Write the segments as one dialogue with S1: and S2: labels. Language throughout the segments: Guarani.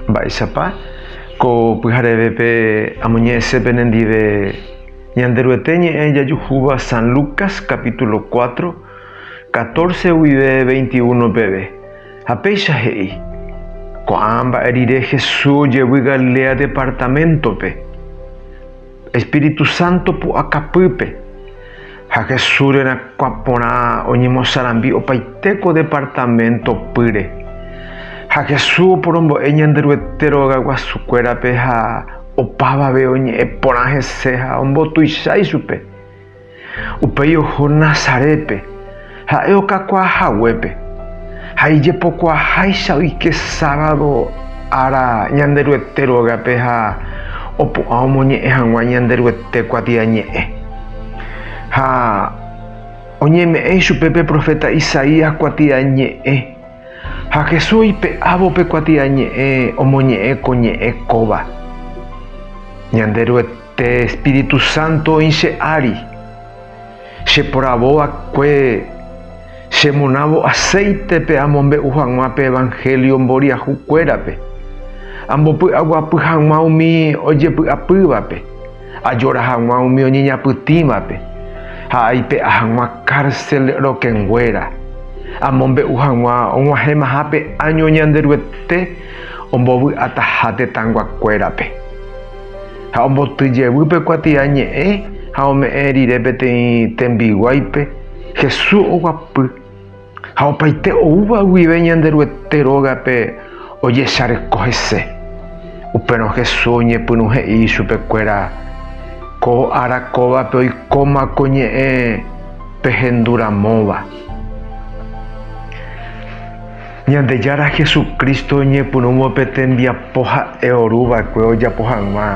S1: Mba'éichapa ko pyharevépe amoñe'ẽse penendive Ñanderuete ñe'ẽ jajuhúva San Lucas capítulo 4, 14 guive 21 peve, ha péicha he'i, Ko'ã mba'e rire Jesús ojevy Galilea departaméntope. Espíritu Santo pu'akapýpe, ha Jesús rerakuã porã oñemosarambi opaite ko departamento pýre. Ha Jesús oporombo'e Ñanderuete rogaguasukuérape ha opavave oñe'ẽ porã hese ha ombotuicha ichupe. Upéi oho Nazarépe, ha'e okakuaa haguépe, ha ijepokuaaháicha oike sábado ára Ñanderuete ru'ágape ha opu'ã omoñe'ẽ hag̃ua Ñanderuete kuatiañe'ẽ. Ha oñeme'ẽ ichupe pe proféta Isaías kuatiañe'ẽ, ha Jesús oipe'ávo pe kuatiañe'ẽ omoñe'ẽ ko ñe'ẽ kóva. Pe Espíritu Santo oĩ che ári, cheporavo va'ekue chemonávo acéitepe amombe'u hag̃ua pe evanhélio mboriahu kuérape, ambopy'aguapy hag̃ua umi ojepy'apývape, ajora hag̃ua umi oñeñapytĩvape ha aipe'a hag̃ua cárcel rokẽnguéra, amombe'u hag̃ua og̃uahẽmaha pe áño Ñanderuete ombovy'ataha tetãnguakuérape. Ha omboty jevy pe kuatia ñe'ẽ ha ome'ẽ rire peteĩ tembiguáipe, Jesús oguapy ha opaite oúva guive Ñanderuete rógape ojesareko hese. Upérõ Jesús oñepyrũ he'i ichupekuéra, Ko ára kóvape oikóma ko ñe'ẽ pehenduramóva. Ñandejára Jesucristo oñepyrũvo pe tembiapo ha'e oru va'ekue ojapo hag̃ua,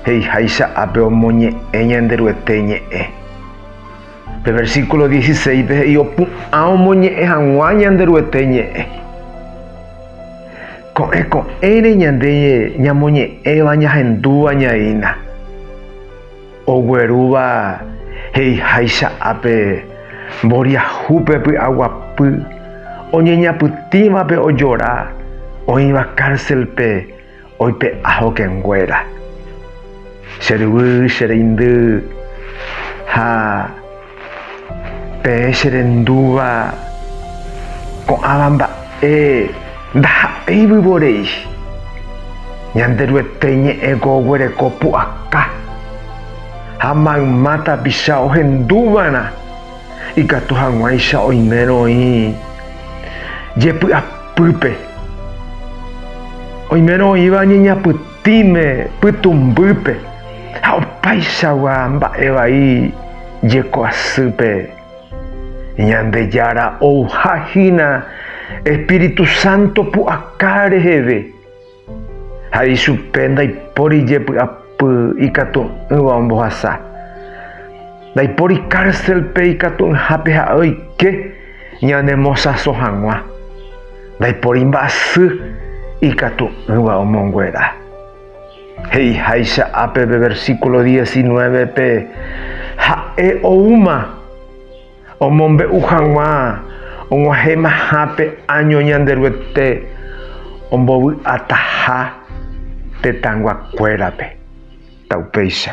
S1: he'iháicha ápe omoñe'ẽ Ñanderuete ñe'ẽ. Pe versículo dieciséispe he'i opu'ã omoñe'ẽ hag̃ua Ñanderuete ñe'ẽ. Ko'ẽ ko'ẽre ñande ñamoñe'ẽva ñahendúva ñaína. Oguerúva he'iháicha ápe, mboriahúpe py'aguapy, oñeñapytĩvape ojora, oĩva kárselpe oipe'a hokẽnguéra. Che ryvy, che reindy ha. Peẽ che rendúva ko'ãva mba'e ndaha'éi vyvorei. Ñanderuete iñe'ẽko oguereko pu'aka ha mayma tapicha ohendúva'erã ikatu hag̃uáicha oimérõ oĩ jepy'apýpe, oimérõ oĩva oñeñapytũ. Tĩme pytũmbýpe ha opaichagua mba'e vai jeko asýpe, Ñandejára ouha hína Espíritu Santo pu'aka reheve, ha ichupe ndaipóri jepy'apy ikatu'ỹva ombohasa. Ndaipóri kárselpe ikatu'ỹhápe ha'e oike ñanemosãso hag̃ua. Ndaipóri mba'asy ikatu'ỹva omonguera. He'iháicha ápe pe versíkulo diesinnuévepe, ha'e oúma omombe'u hag̃ua og̃uahẽmaha pe áño Ñanderuete ombovy'ataha tetãyguakuérape. Ta upéicha.